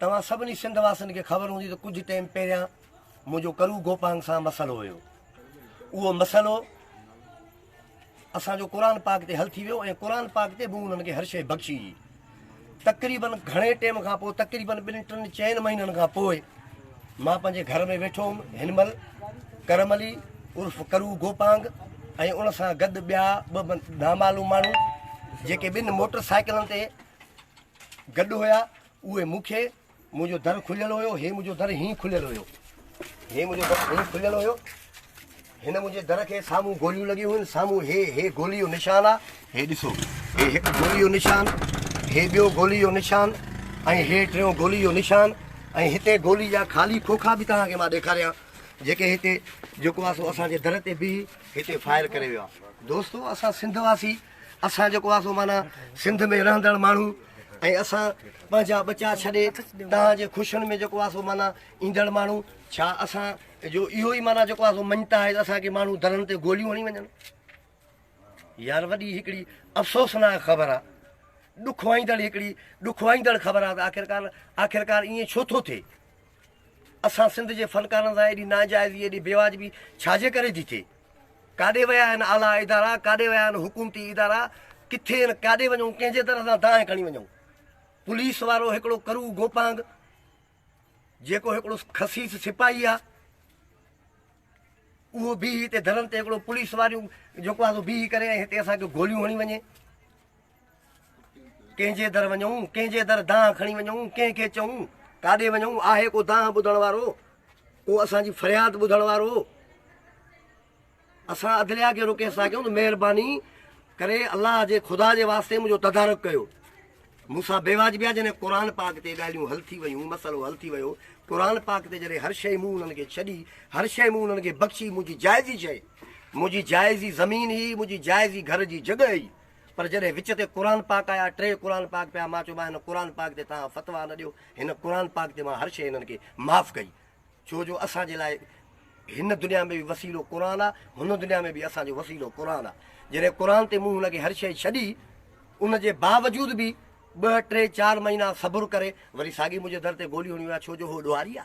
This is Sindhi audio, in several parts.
توهان سڀني سنڌ واسين کي خبر هوندي ته ڪجهه ٽيم پهريان منهنجو ڪرو گوپانگ سان مسئلو هيو اهو مسئلو اسان جو قرآن پاڪ تي حل ٿي ويو ۽ قرآن پاڪ تي به انهن کي هر شيء بخشي جي تقريبن گهڻي ٽيم کان پوء تقريبن ٻن ٽن چئن مهينن کان پوء مان پنهنجي گهر ۾ ويٺو هوم هن مهل ڪرم علي عرف ڪرو گوپانگ ۽ ان سان گڏ ٻيا ٻه نامعلوم ماڻهو جيڪي ٻن موٽر سائيڪلن تي گڏ هيا اهي مون کي منهنجو در کليل هيو هي منهنجو در هين کليل هيو هي منهنجو در هين کليل هيو هن منهنجي در کي سامهون گوليون لڳيون هيون سامهون هي هي گولي جو نشان آ هي ڏسو هي هڪ گولي جو نشان هي ٻيو گولي جو نشان ۽ هي ٽيون گولي جو نشان ۽ هتي گولي جا خالي کوکا به توهان کي مان ڏيکاريان جيڪي هتي جيڪو آ سو اسان جي در تي بيهي هتي فائر ڪري ويو آ دوستو اسان سنڌ واسي اسان جيڪو آسو معنيٰ سنڌ ۾ رهندڙ ماڻهو ۽ اسان پنهنجا ٻچا ڇڏي توهان جي خوشين ۾ جيڪو آسو معنيٰ ايندڙ ماڻهو ڇا اسان جو اهو ئي معنيٰ جيڪو آسو مڃتا آهي ته اسان کي ماڻهو درن تي گوليون هڻي وڃن يار وڏي هڪڙي افسوسناڪ خبر آهي ڏکوائيندڙ هڪڙي ڏکوائيندڙ خبر آهي ته آخرڪار آخرڪار ائين ڇو ٿو ٿئي اسان سنڌ جي فنڪارن سان ايڏي ناجائزي ايڏي بيواجبي ڇاجي ڪري ٿي ٿئي؟ ڪاڏي ويا آهن اعليٰ ادارا؟ ڪاڏي ويا آهن حڪومتي ادارا؟ ڪٿي ۽ ڪاڏي وڃون؟ ڪنهن جي در سان دانهن کڻي وڃون؟ پوليس وارو هڪڙو ڪرو گوپانگ جيڪو هڪڙو خسيس سپاهي آهي اهو بيهي هتي درن تي هڪڙو پوليس واريون جيڪو آهي سو بيهي ڪري ۽ هتي اسان کي گوليون هڻي وڃي. ڪنهن جي در وڃون ڪنهن جي در دانهن کڻي وڃون ڪنهن کي چئون ڪاڏي وڃون آهي ڪو دانهن ٻڌڻ وارو ڪو اسان جي فرياد ٻڌڻ وارو اسان عدليا کي روڪي سان ڪيون مهرباني ڪري الله جي خدا جي واسطي منهنجو تدارڪ ڪيو مون سان بي واجبي آ جنهن قرآن پاڪ تي ڳالهيون حل ٿي ويون مسئلو حل ٿي ويو قرآن پاڪ تي جڏهن هر شيء مون انهن کي ڇڏي هر شيء مون انهن کي بخشي منهنجي جائزي شيء منهنجي جائزي زمين هي منهنجي جائزي گهر جي جڳهه هي پر جڏهن وچ تي قرآن پاڪ آيا، ٽي قرآن پاڪ پيا، مان چيو مان هن قرآن پاڪ تي توهان فتويٰ نه ڏيو، هن قرآن پاڪ تي مان هر شيء هنن کي معاف ڪئي، ڇو جو اسان جي لاء هن دنيا ۾ به وسيلو قرآن آ، هن دنيا ۾ به اسان جو وسيلو قرآن آ، جڏهن قرآن تي مون هن کي هر شيء ڇڏي، ان جي باوجود به ٻه ٽي چار مهينا صبر ڪري وري ساڳي منهنجي در تي گوليون هڻيون ويا، ڇو جو هوء ڏوهاري آ.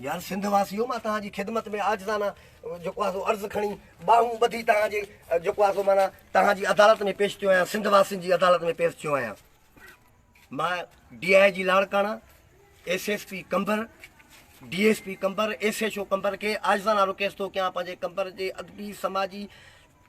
يار سنڌ واسيو مان توهان جي خدمت ۾ عاجزانه جيڪو آهي سو عرض کڻي ٻانهون ٻڌي توهان جي جيڪو آهي سو معنيٰ توهان جي عدالت ۾ پيش ٿيو آهيان سنڌ واسين جي عدالت ۾ پيش ٿيو آهيان مان D I G Larkana S S P Qambar D S P Qambar S S O Qambar کي عاجزانه رڪويسٽ ٿو ڪيان پنهنجي قمبر جي ادبي سماجي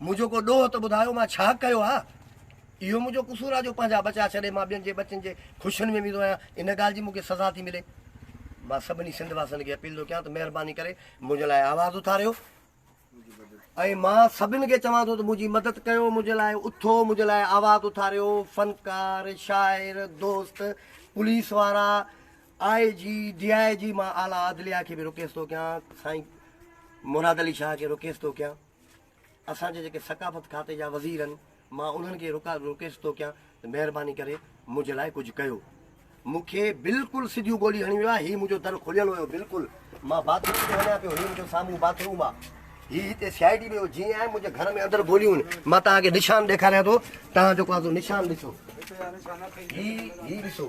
منهنجو ڪو ڏوهه ته ٻڌايو، مان ڇا ڪيو آ؟ اهو منهنجو قصور آ جو پنهنجا ٻچا ڇڏي مان ٻين جي ٻچن جي خوشين ۾ ويندو آهيان، ان ڳالهه جي مون کي سزا ٿي ملي. مان سڀني سنڌ واسين کي اپيل ٿو ڪيان ته مهرباني ڪري منهنجي لاء آواز اٿاريو ۽ مان سڀني کي چوان ٿو ته منهنجي مدد ڪيو، منهنجي لاء اٿو، منهنجي لاء آواز اٿاريو، فنڪار، شاعر، دوست، پوليس وارا، آء جي، ڊي آء جي، مان اعليٰ عدليه کي به رڪيست ٿو ڪيان، سائين مراد علي شاهه کي رڪيست ٿو ڪيان. اسان جي جيڪي ثقافت کاتي جا وزير آهن مان انهن کي رڪويسٽ ٿو ڪيان ته مهرباني ڪري منهنجي لاء ڪجهه ڪيو مون کي بلڪل سڌيون ٻولي هڻي ويو آهي هي منهنجو در کليل هيو بلڪل مان باٿ روم ۾ وڃان پيو هي منهنجو سامهون باٿ روم آهي هي هتي سي آء ڊي ويو جيئن آهي منهنجي گهر ۾ اندر گوليون آهن مان توهان کي نشان ڏيکاريان ٿو توهان جيڪو آهي نشان ڏسو هي هي ڏسو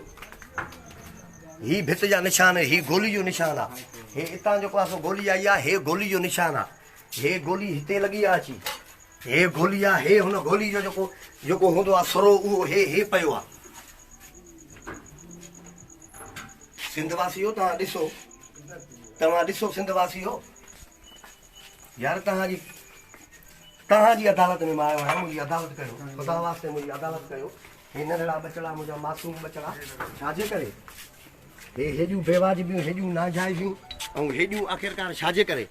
هي ڀت جا نشان هي گولي جو نشان آهي هي اتان جيڪو آهي سو گولي آئي آهي هي گولي جو نشان آهي هي گولي هتي لڳي آ اچي. هي گولي آ هي هن گولي جو جيڪو جيڪو هوندو آ سرو اهو هي هي پيو آ. سنڌ واسيو توهان ڏسو توهان ڏسو سنڌ واسيو يار توهان جي توهان جي عدالت ۾ مان آيو آهيان منهنجي عدالت ڪريو خدا واسطي منهنجي عدالت ڪريو. هي ننڍڙا ٻچڙا منهنجا معصوم ٻچڙا ڇاجي ڪري هي هيڏيون بيواجبيون هيڏيون ناجائزيون ۽ هيڏيون آخرڪار ڇاجي ڪري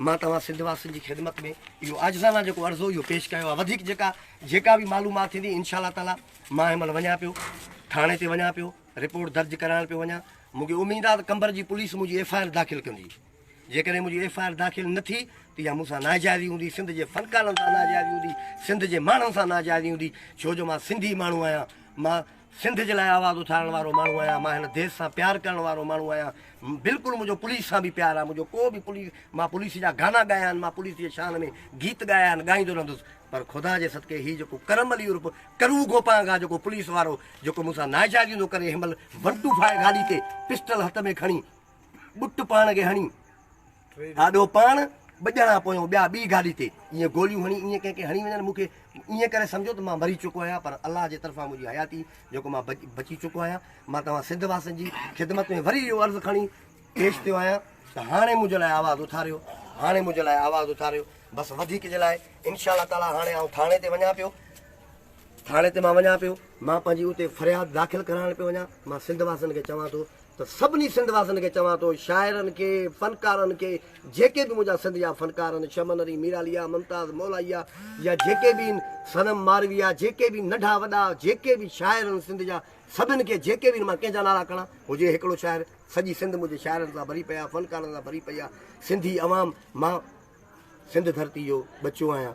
مان توهان سنڌ واسين جي خدمت ۾ اهو عاجزانه جيڪو عرضو اهو پيش ڪيو آهي وڌيڪ جيڪا جيڪا به معلومات ٿيندي انشاء الله تعالي مان هن مهل وڃان پيو ٿاڻي تي وڃان پيو رپورٽ درج ڪرائڻ پيو وڃان مونکي اميد آهي ته قمبر جي پوليس منهنجي ايف آء آر داخل ڪندي جيڪڏهن منهنجي ايف آء آر داخل نه ٿي ته اها مون سان ناجائزي هوندي، سنڌ جي فنڪارن سان ناجائزي هوندي، سنڌ جي ماڻهن سان ناجائزي هوندي، ڇو جو مان سنڌي ماڻهو آهيان، مان سنڌ جي لاء آواز اٿارڻ وارو ماڻهو آهيان، مان هن ديس سان پيار ڪرڻ وارو ماڻهو آهيان، بلڪل منهنجو پوليس سان به پيار آهي، منهنجو ڪو به پوليس مان پوليس جا گانا ڳايا آهن، مان پوليس جي شان ۾ گيت ڳايا آهن، ڳائيندو رهندس، پر خدا جي صدقي هي جيڪو ڪرم علي عرف ڪروو گوپانگ آهي جيڪو پوليس وارو جيڪو مون سان ناجائزي هوندو ڪري هن مهل ون ٽو فائو گاڏي تي پسٽل هٿ ۾ کڻي ٻٽ پاڻ کي هڻي آڏو پاڻ ٻه ڄڻا پويون ٻيا ٻي گاڏي تي ائين گوليون هڻي ائين ڪنهن کي هڻي وڃن مون کي ائين ڪري سمجهو ته مان مري چڪو آهيان پر الله جي طرفان منهنجي حياتي جيڪو مان بچي چڪو آهيان مان توهان سنڌ واسين جي خدمت ۾ وري اهو عرض کڻي پيش ٿيو آهيان ته هاڻي منهنجي لاء آواز اٿاريو هاڻي منهنجي لاء آواز اٿاريو بس وڌيڪ جي لاء انشاء الله تعاليٰ هاڻي آئون ٿاڻي تي وڃان پيو ٿاڻي تي مان وڃان پيو، مان پنهنجي اتي فرياد داخل ڪرائڻ پيو وڃان، مان سنڌ واسين کي چوان ٿو ته سڀني سنڌ واسين کي چوان ٿو شاعرن کي، فنڪارن کي جيڪي به منهنجا سنڌ جا فنڪار آهن شمن علي ميراليا، ممتاز مولائيا يا جيڪي به آهن صنم مارويا جيڪي به ننڍا وڏا جيڪي به شاعر آهن سنڌ جا سڀن کي جيڪي به آهن مان ڪنهن جا نالا کڻان هجي هڪڙو شاعر سڄي سنڌ منهنجي شاعرن سان ڀري پئي آهي فنڪارن سان ڀري پئي آهي سنڌي عوام مان سنڌ ڌرتي جو ٻچو آهيان.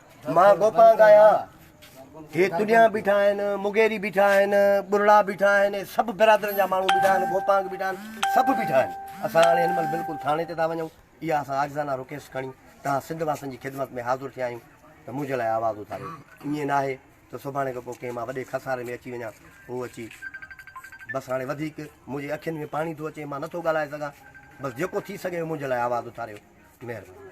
مان گوپانگ آهيان. هي تڏيان بيٺا آهن، مغيري بيٺا آهن، ٻرڙا بيٺا آهن، هي سڀ برادرن جا ماڻهو بيٺا آهن، گوپانگ بيٺا آهن، سڀ بيٺا آهن. اسان هاڻي هن مهل بلڪل ٿاڻي تي ٿا وڃون. اها اسان عاجزانه رڪيست کڻي توهان سنڌ واسين جي خدمت ۾ حاضر ٿيا آهيون ته منهنجي لاء آواز اٿاريو. ائين ناهي ته سڀاڻي کان پوء ڪنهن مان وڏي خساري ۾ اچي وڃان. هو اچي بس هاڻي وڌيڪ منهنجي اکين ۾ پاڻي ٿو اچي، مان نٿو ڳالهائي سگهان. بس جيڪو ٿي سگهي اهو منهنجي لاء آواز اٿاريو. مهرباني.